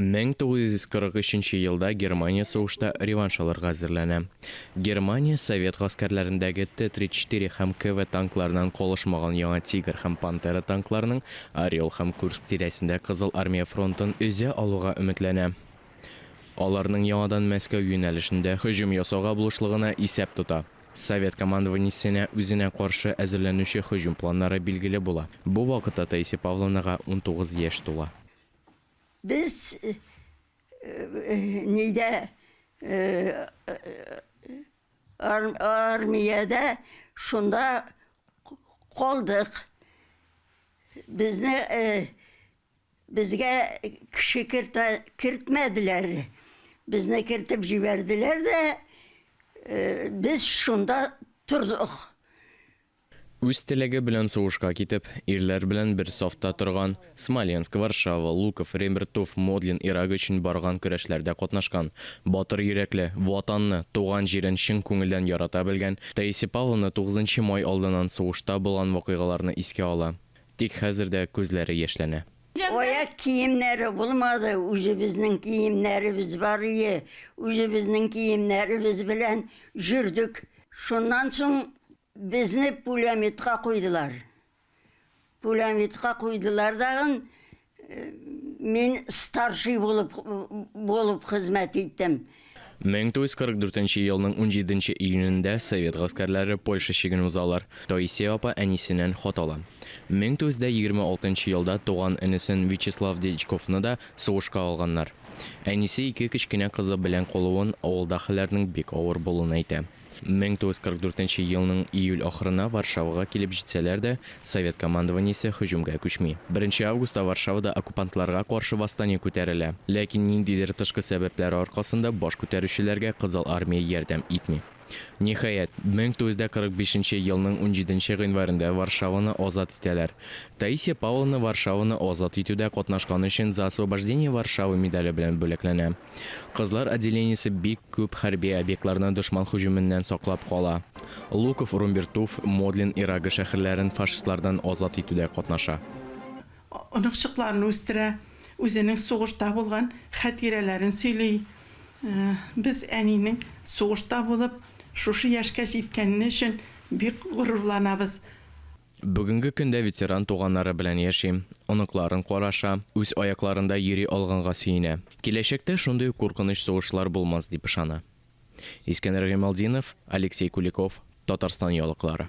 1943 нче елда Германия сугышта реванш алырга әзерләнә. Германия совет гаскәрләрендәге Т-34 һәм КВ танкларыннан калышмаган яңа Тигр һәм Пантера танкларының Орел һәм Курск тирәсендә Кызыл Армия фронтын өзә алуга өметләнә. Аларның яңадан Мәскәү юнәлешендә һөҗүм ясауга булышлыгына исәп тота. Совет командованиесенә үзенә каршы әзерләнүче һөҗүм планнары билгеле була. Бу вакытта Таисия Павловнага унтугыз яшь тула. Без нидә, армиядә шунда калдык. Безне. Безгә кеше кертә кертмәделәр. Безне кертеп җибәрделәр дә, без шунда тордык. Үз теләге белән сугышка китеп, ирләр белән бер сафта торган, Смоленск, Варшава, Луков, Ребртув, Модлин Ирак өчен барган көрәшләрдә катнашкан, батыр йөрәкле, Ватанны, туган җирен чын күңелдән ярата белгән Таисия Павловна тугызынчы май алдыннан сугышта булган вакыйгаларны искә ала. Тик хәзер дә күзләре яшьләнә. Аяк киемнәре булмады, үзебезнең киемнәребез бар ие, үзебезнең киемнәребез белән җөрдек. Шуннан соң безне пуләметка куйдылар. Пуләметка куйдылар дагын, Мин старший булып булып хезмәт иттем. 1944 елның 17 июнендә совет гаскәрләре Польша чиген узалар. Таисия апа әнисеннән хат ала. 1926 елда туган энесен Вячеслав Дьячковны да сугышка алганнар. Әнисе ике кечкенә кызы белән калуын, авылда хәлләрнең бик авыр булуын әйтә. 1944 елның июль ахырына Варшавага килеп җитсәләр дә, совет командованиесе һөҗүмгә күчми. Беренче августта Варшавада оккупантларга каршы восстание күтәрелә. Ләкин ниндидер тышкы сәбәпләр аркасында баш күтәрүчеләргә Кызыл Армия ярдәм итми. Ниһаять, 1945 елның унҗиденче гыйнварендә Варшаваны азат итәләр. Таисия Павловна Варшаваны азат итүдә катнашканы өчен За освобождение Варшавы медале белән бүләкләнә. Кызлар отделениесе бик күп хәрби объектларны дошман һөҗүменнән саклап кала. Луков, Румбертуф, Модлин, Ирагы шәһәрләрен фашистлардан азат итүдә катнаша. Оныкчыкларын үстерә, үзенең сугышта булган хәтирәләрен сөйли. Без әнинең сугышта булып, шушы яшькә җиткәне өчен бик горурланабыз. Бүгенге көндә ветеран туганнары белән яши, оныкларын караша, үз аякларында йөри алганга сөенә. Киләчәктә шундый ук куркыныч сугышлар булмас, дип ышана. Искәндәр Гыймалтдинов, Алексей Куликов, Татарстан яулыклары.